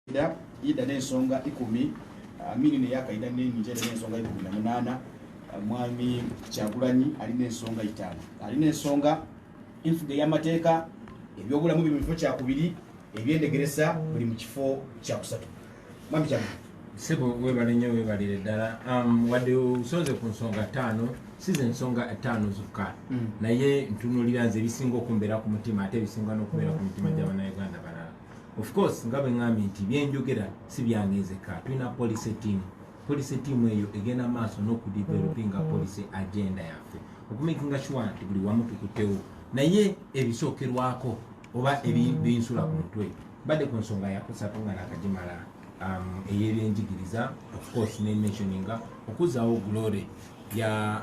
Kaida yida n'ensonga ikumi Amini ne yakaida n'enyinja yida n'ensonga ikumi na munaana Mwami Kyagulanyi alina ensonga itaano alina ensonga enfuga ey'amateeka ebyobulamu biri mu kifo kyakubiri ebyendegeresa buli mu kifo kyakusatu Mwami Kyagulanyi sebo webale nnyo webalire ddala um, wadde osonze ku nsonga ttaano si ze nsonga ttaano zokka mm. naye ntunulira nze ebisinga okumbeera ku mutima ate ebisinga n'okubeera ku mitima gy'abanauganda balala of course nga bwe ŋŋambye nti byenjogera si byange nzekka tulina policy team policy team eyo egenda maaso n'okudevelopinga mm-hmm. policy agenda yaffe okumakinga sure nti buli wamu tukutewo naye ebisookerwako oba mm-hmm. ebinsula ku mutwe badde ku nsonga yakusatu nga nakagimala um, eyebyenjigiriza of course ne mentioninga okuzzaawo glory ya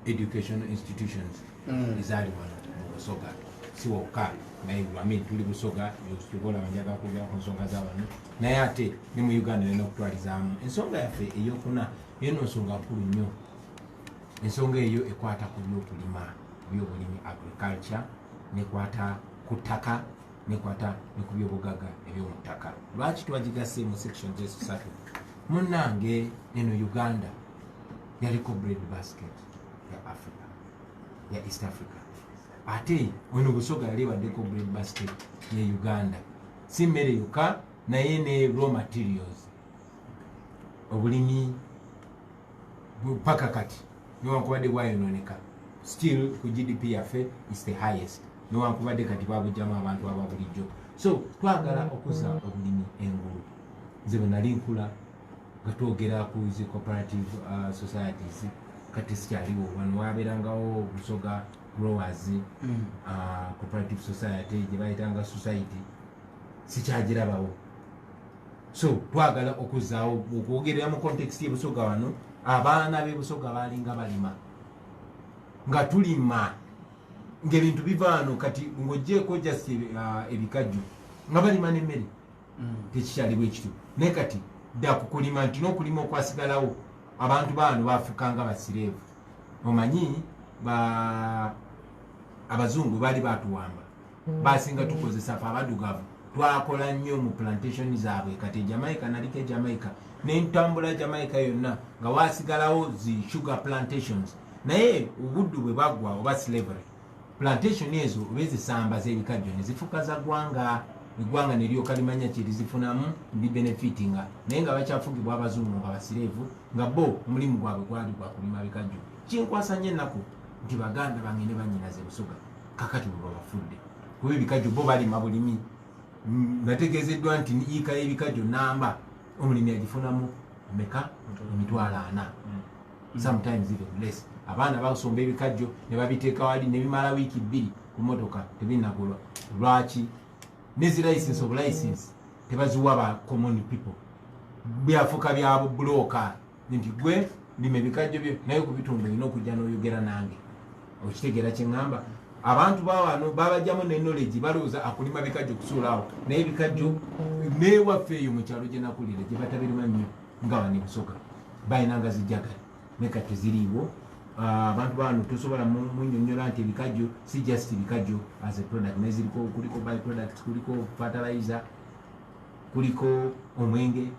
educational institutions mm. ezaali wano mu busoga si wokka naye amin tuli busoga tukola banjaga kwogera ku nsonga za wano naye ate ne mu uganda nena okutwalizaamu ensonga yaffe eyokuna eno nsonga nkulu nnyo ensonga eyo ekwata ku byokulima byobulimi agriculture nekwata ku ttaka nekwata ne ku byobugaga ebyomu ttaka lwaki twagigase mu section zesatu munnange eno uganda yaliko bread basket ya africa ya east africa ate ono busoga yali ebaddeko bread basket ye uganda si mmere yokka naye ne raw materials obulimi paka kati newankubadde bwayononeka still ku gdp yaffe is the highest newankubadde kati babujjamu abantu ababulijjo so twagala okuza obulimi engulu nze bwenali nkula nga twogera ku zi cooperative uh, societies kati sikyaliwo wano wabeerangawo busoga growers mm. uh, cooperative society gye bayitanga society sikyagirabawo so twagala okuzaawo okwogerera mu context yebusoga wano abaana bebusoga balinga balima nga tulima ngaebintu bivaano kati ngojjeeko just uh, ebikajjo nga balima nemmere mm. tekikyali bwekityo naye kati dda kukulima nti nokulima okwasigalawo abantu baano bafukanga basireevu omanyi ba abazungu baali batuwamba mm. basinga tukozesa fe abadugavu twakola nnyo mu plantation zaabwe kati ejamaica naliko ejamaica nentambula jamaica yonna nga wasigalawo zi sugar plantations naye obuddu bwe baggwa oba slavery Plantation ezo bezisamba zebikajjo nezifuka za gwanga egwanga nelyoka limanya kyerizifunamu ndi benefitinga naye nga bakyafugibwa abazungu nga basirevu nga bo omulimu gwabwe gwali gwakulima bikajjo kinkwasa nyo ennaku nti baganda bange ne banyinaze busoga kakati bwe babafudde kuba ebikajjo bo balima bulimi nategeezeddwa nti yiika y'ebikajjo namba omulimi agifunamu meka emitwalo ana mm. sometimes even less abaana basomba ebikajjo ne babiteeka wali ne bimala wiiki bbiri ku motoka tebinagulwa lwaki nezi license of license tebaziwa ba common people byafuka byabo bulooka nti gwe lima ebikajjo byo naye ku bitundu olina okujja n'oyogera nange okitegeera kye ŋŋamba abantu bawano babajjamu ne knowledge balowooza akulima bikajjo kusuulaawo naye ebikajjo neewaffe eyo mu kyalo gye nakulira gye batabirima nnyo nga bane busoga balina nga zijagali naye kati teziriiwo ah, abantu bano tosobola munyonyola nti ebikajjo si just bikajjo as a product naye ziriko kuliko by product kuliko fertilizer kuliko omwenge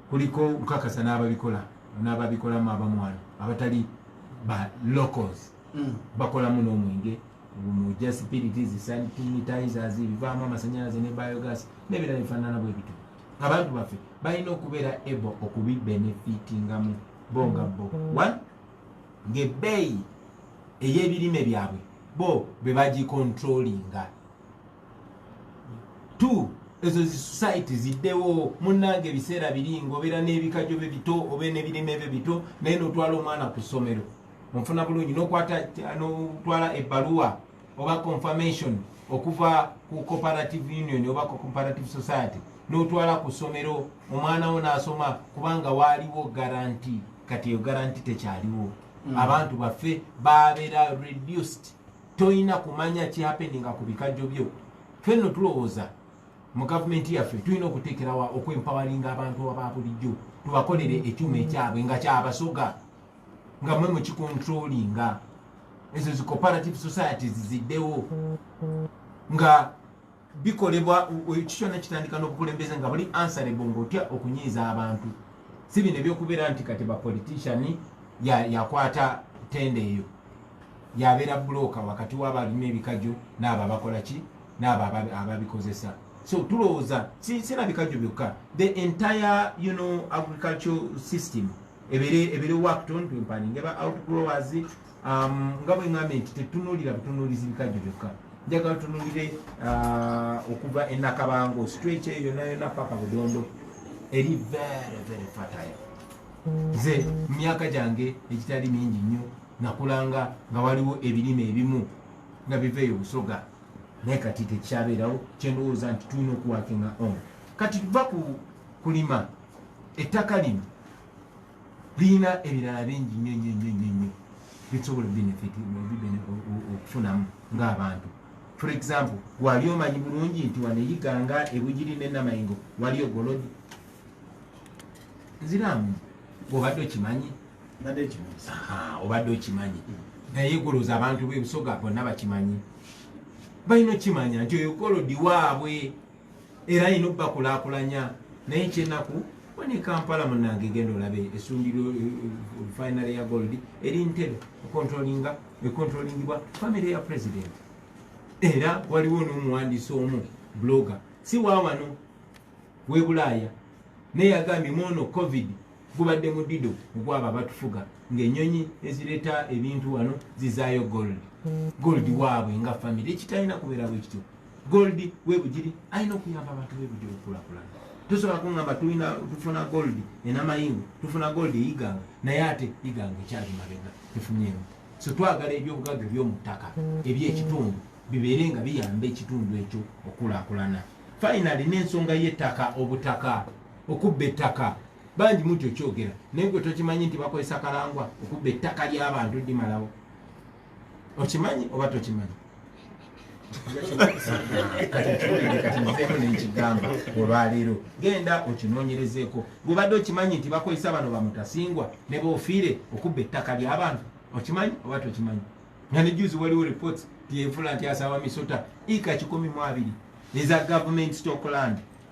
kuliko nkakasa n'ababikola n'ababikolamu abamwana abatali ba locals mm. bakolamu n'omwenge mu just piritis sanitizers ebivaamu amasanyalaze ne biogas n'ebirala bifaanana bwe bityo abantu baffe balina okubeera able okubibenefitingamu bo nga bo one ngaebbeeyi ey'ebirime byabwe bo be bagikontrolinga two ezo zi society ziddewo munnange ebiseera biri ngaobeera n'ebikajo bye bito obe n'ebirime bye bito naye n'otwala omwana ku ssomero onfuna bulungi n'okwata n'otwala ebbaluwa oba confirmation okuva ku cooperative union oba ku cooperative society notwala ku ssomero omwana wo nasoma kubanga waaliwo garanti kati eyo garanti tekyaliwo mm. abantu baffe babeera reduced tolina kumanya kihapeninga ku bikajjo byo fenno tulowooza mu gavumenti yaffe tulina okuteekerawa okwempawalinga abantu ababulijjo tubakolere ekyuma ekyabwe nga kyabasoga nga mwe mukikontrolinga ezo zi cooperative societies ziddewo nga bikolebwa kikyona kitandika n'obukulembeze nga buli ansarebo ngaotya okunyiiza abantu si bino ebyokubeera nti kati bapolitician yakwata ya tenda eyo yabeera bulooka wakati wabalina ebikajjo naabo abakola ki naabo ababikozesa so tulowooza sirabikajjo byokka the entire you know, agricultural system ebere ebere wakton twempaninge ba outgrowers um, nga bwe ŋambe nti tetunuulira butunuulizi bikajjo byokka njagala tunuulire uh, okuva enakabango stretch eyo yona yona paka budondo eri very very fertile nze mu myaka gyange egitali mingi nnyo nakulanga nga waliwo ebirime ebimu nga biva eyo busoga naye kati tekikyabeerawo kyendowooza nti tulina okuwakinga on kati tuva ku kulima ettaka lino lirina ebirala bingi nnyo nnyo nnyo nnyo nnyo bisobola benefiti okufunamu ng'abantu for example wali omanyi bulungi nti wano eyiganga ebugiri nenamayingo wali ogolodi nziramu obadde okimanyi obadde okimanyi naye goloza abantu bebusoga bonna bakimanyi balina okimanya nti oyo golodi waabwe era yina obbakulakulanya naye kyenaku wani kampala munange genda olabe esundiro eh, eh, finary ya gold eri ntebe econtrolinga econtrolingibwa famiry ya president era waliwo nomuwandisi omu blogger si wawano webulaaya naye yagambye mwono covid gubadde mudido ogwaba abatufuga ngaenyonyi ezireta ebintu wano zizayo gold gold waabwe nga famiry ekitalina kubeera bwekityo gold we bujiri ayina okuyamba abantu be bujiri kula kula tusobola kungamba tulina tufuna gold ena mayingo tufuna gold eyiganga naye ate iganga ekyali mabega tufunyeemu so twagala ebyobugagga ebyomuttaka ebyekitundu bibeere nga biyamba ekitundu ekyo okulakulana finally nensonga yettaka obutaka okubba ettaka bangi muti okyogera naye gwe tokimanyi nti bakozesa kalangwa okubba ettaka lyabantu dimalawo okimanyi oba tokimanyi nekigamba olwaleero genda okinonyerezeeko bwebadde okimanyi nti bakozesa bano bamutasingwa nebofiire okubba ettaka lyabantu okimanyi oba tokimanyi nga nejuzi waliwo reports tyevula nti asawa misota ika kikumi mu abiri eza government stockland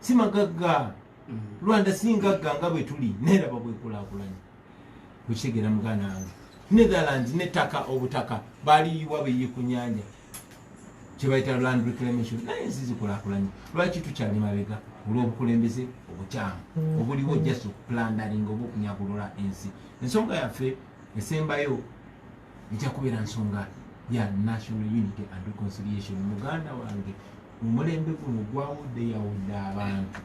si magagga mm. rwanda si ngagga nga bwe tuli neraba bwekulakulanya okitegeera muganda wange netherland nettaka obutaka baliyiwa beyi ku nyanja kyebayita land reclamation naye ensi zikulakulanya lwaki tukyali mabega olw'obukulembeze obukyamu mm. obuliwo just okupulandaringa oba okunyagulula ensi ensonga yaffe esembayo ejja kubeera nsonga ya national unity and reconciliation muganda wange omulembe guno gwawuddeyawudde abantu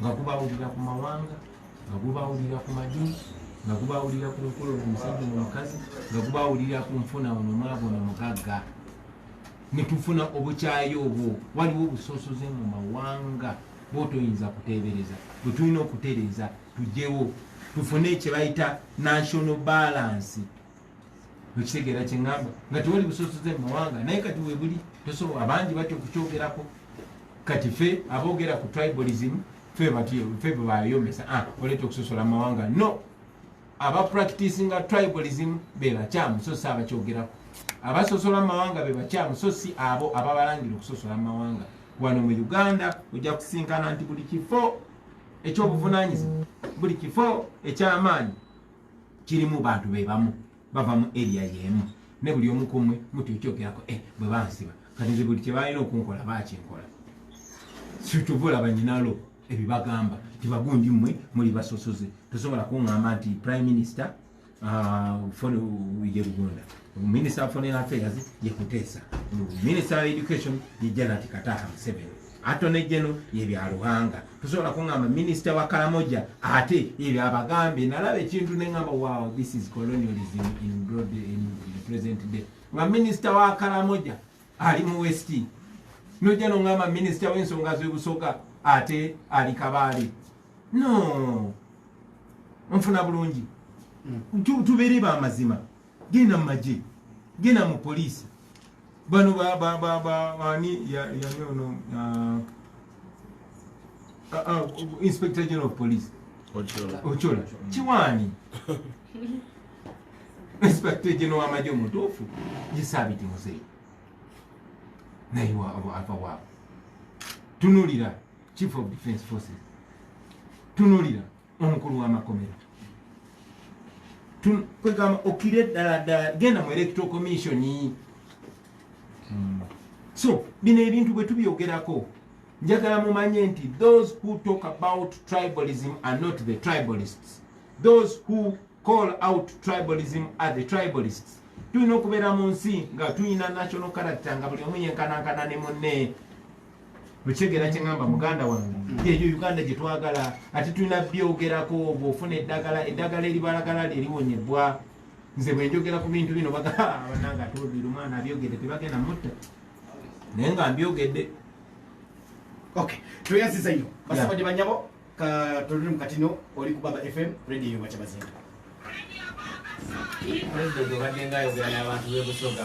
nga gubawulira ku mawanga nga gubawulira ku madini nga gubawulira ku nkolo omusajja nomukazi nga gubawulira ku nfuna ono mwabo nomugagga netufuna obukyayi obwo waliwo obusosoze mu mawanga bwotoyinza kutebereza bwetulina okutereza tujewo tufune kyebayita national balance okitegeera kyeŋŋamba nga tewali busosoze mu mawanga naye kati webuli tosobola abangi batya okukyogerako kati fe aboogera ku tribalism fe bebayomesa ah, oleeta okusosola mu mawanga no aba practicinga tribalism bebakyamu so si abakyogerako abasosola mu mawanga bebakyamu so si abo ababalangira okusosola mu mawanga wano mu uganda ojja kusinkana nti buli kifo ekyobuvunanyizibwa buli kifo ekyamaanyi kirimu bantu bebamu bava mu eriya yemu ne buli omu kumwe muti okyogerako e eh, bwe bansiba kati nze buli kyebalina okunkola bakinkola situbula banyinalo ebibagamba nti bagundi mmwe muli basosoze tosobola kuŋŋamba nti prime minister ah, ye lugunda minister of foreign affairs ye kuteesa minister of education ye janati kataha museveni atone geno yebyaluhanga tusobola kungamba minisita wa kalamoja ate ebyabagambe nalaba ekintu nengamba wow this is colonialism in broad in the present day nga minisita wa kalamoja ali mu west noja nongamba minisita wensonga zebusoga ate ali kabaale no nfuna bulungi hmm. tubere bamazima genda mu magye genda mu poliisi bano ani yani ono uh, uh, uh, inspector general of police ocola kiwaani inspector general wamagye omutuufu yesaabiti muzeeyi naye ava waabo tunulira chief of defense forces tunulira omukulu wamakomera kwegamba okire ddala ddala genda mu electoral commission hmm. so bino ebintu bwe tubyogerako njagala mumanye nti those who talk about tribalism are not the tribalists those who call out tribalism are the tribalists tulina okubeera mu nsi nga tulina national character nga buli omu yenkanankana ne munne okitegera kyeŋamba muganda wange yeyo uganda gyetwagala ati tulina byogerako bwofuna eddagala eddagala eribalagala lyeliwonyebwa nze bwenjogera ku bintu bino babananga atobiri omwana abyogedde tebagenda mutta naye nga mbyogedde ok tweyaziza nyo basabadi banyabo katoluli mukatino oli ku baba fm radio yobakyabazinga president obadde nga ayogera n'abantu bebusoga